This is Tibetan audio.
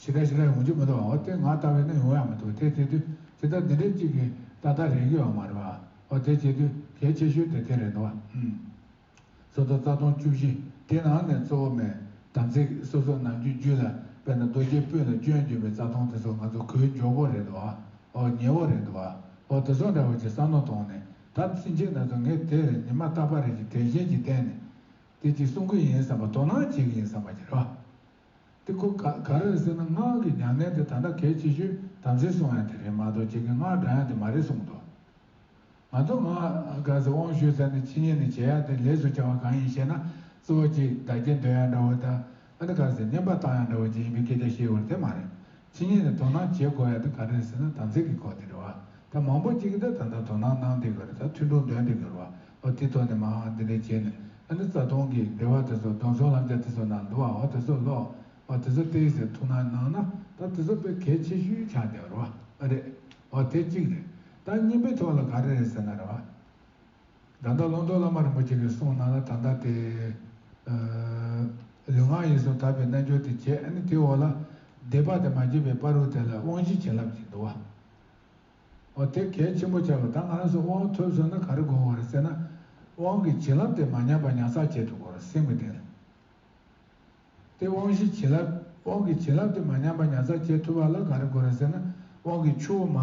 ཇི་ལྟར་ཞིག་ལ་ཡོང་རྒྱུ་མི་འདུག་འོ་དེ་ང་ལྟ་བས་ན་ཡོང་ཡག་མི་འདུག་དེ་བྱེད་དུས་ཇི་ལྟར་འདི་འདྲའི་གཅིག་གིས་ད་ལྟ་རེག་རྒྱུ་ཡང་མ་རེད་པའོ་དེ་བྱེད་དུས་གལ་ཆེ་ཤོས་དེ་དེ་རེད་འདུག་བསམ། སོ་སོར་རྩ་སྟོང་བཅུ་བཞི་དེ་ནང་ནས་གཙོ་བོ་མེད་དམ་ཚིག་སོ་སོར་ནང་རྒྱུ་རྒྱུད་ལ་དཔེར་ན་རྡོ་རྗེའི་སྤུན་ལ་སྐྱོན་བརྗོད་པའི་རྩ་སྟོང་དེ་ཚོ་ང་ཚོ་གོས་མགྱོགས་པོ་རེད་འདུག་འོ་ཉེ་བོ་རེད་འདུག་འོ་དེ་ཚོ་འདྲ་བ་ཅིག་བསམ་མནོ་བཏང་ནས་ད་ཕྱིན་ཆད་ན་ཚོད་ངས་དེ་བས་ནི་མ་བརྟག་པ་རེ་ཞིག་དྲན་ཤེས་ཀྱིས་བསྟན་ནས་དེ་གཅིག་གསུང་གི་ཡིན་བསམ་པ་དོ་སྣང་བྱེད་ཀྱི་ཡིན་བསམ་པ་ཅི་རེད་བ། དེ་ཁོ་ག་ག་རེད་ཟེར་ན་སྔགས་ཀྱི་མྱ་ངན་དེ་ད་ལྟ་གལ་ཆེ་ཤོས་དམ་སྲི་སྲུང་ཡང་དེ་རེད་མ་གཏོགས་ཁྱེད་ཀྱི་སྔགས་འདྲ་ཡང་དེ་མ་རེད་གསུངས་འདུག་ང་ཚོ་ང་ག་ཟེར་དབང་ཞུས་ཚར་ནས་ཕྱི་ཉིན་ནས་བྱེད་ཡག་དེ་ལས་སུ་བྱ་བ་གང་ཡིན་ཞེ་ན་རྩི་བ་གཅིག་བདག་སྐྱེ་འདོད་ཡང་འདྲ་བོ་ད་ཨ་ནི་ག་ཟེར་བསྙེན་པ་བཏང་ཡང་འདྲ་བོ་ཅི་ཡིན་པའི་སྐད་ཆ་བཤད་འོ་རེད་དེ་མ་རེད་ཕྱི་ཉིན་ནས་དོ་སྣང་བྱེད་དགོས་ཡ་ད་ག་རེད་ཟེར་ན་དམ་ཚིག་གི་སྐོར་དེ་རེད་བ་ད་མང་པོ་གཅིག་གི་ད་ད་ད་དོ་སྣང་གནང་དེ་ག་རེད་ད་ཐུན་ཐུང་འདོན་དེ་ག་རེད་བ་ཨོ་དེ་ཐོག་ནས་མ་འང་འདི་འདྲ་བྱས་ནས་ཨ་ནི་རྩ་སྟོང་གི་སྡེ་བ་དེ་ཚོ་གདོན་ཚོང་ལྷམ་ཆ་དེ་ཚོ་ནང་འདུག་བ་ཨོ་དེ་ཚོ་ལོག་ཨོ་དེ་ཚོ་སྟེར་ཟེར་ཐུགས་སྣང་གནང་ན་ད་དེ་ཚོ་དཔེ་གལ་ཆེ་ཤོས་ཆགས་བསྡད་པ་རེད་བ་ཨོ་རེད་ཨོ་དེ་གཅིག་རེད་ད་གཉིས་པའི་ཐོག་ལ་ག་རེ་རེད་ཟེར་ན་རེད་བ། ད་ལྟ་ལོངས་སྤྲོ་བླ་མ་རིན་པོ་ཆེ་ལས་གསུངས་གནང་ལ་ད་ལྟ་དེ། ལུས་ངག་ཡིད་གསུམ་དག་པའི་རྣལ་འབྱོར་དེ་བྱས་ནས་དེའི་འོག་ལ། སྡེ་པ་དེ་མ་བྱས་པའི་པར་རུ་དེ་ལ་དབང་བཞི་བྱིན་རླབས་ཀྱིས་འདུལ་བའོ། དེ་གལ་ཆེན་པོ་བྱ་བ་ད་ང་རང་ཚོས་དབང་ཐོབ་ཟོས་ན་ག་རེ་དགོས་བ་རེད་ཟེར་ན། དབང་གི་བྱིན་རླབས་དེ་མ་ཉམས་པ་ཉར་ཚགས་བྱེད་དུ་གོ་རེ་སེམས་ཀྱི་གདེང་ལ། དེ་དབང་བཞི་བྱིན་རླབས་དབང་གི་བྱིན་རླབས་དེ་མ་ཉམས་པ་ཉར་ཚགས་བྱེད་ཐུབ་པ་ལ་ག་རེ་དགོས་རེ་ཟེར་ན་དབང་གི་ཆུ་བོ་མ།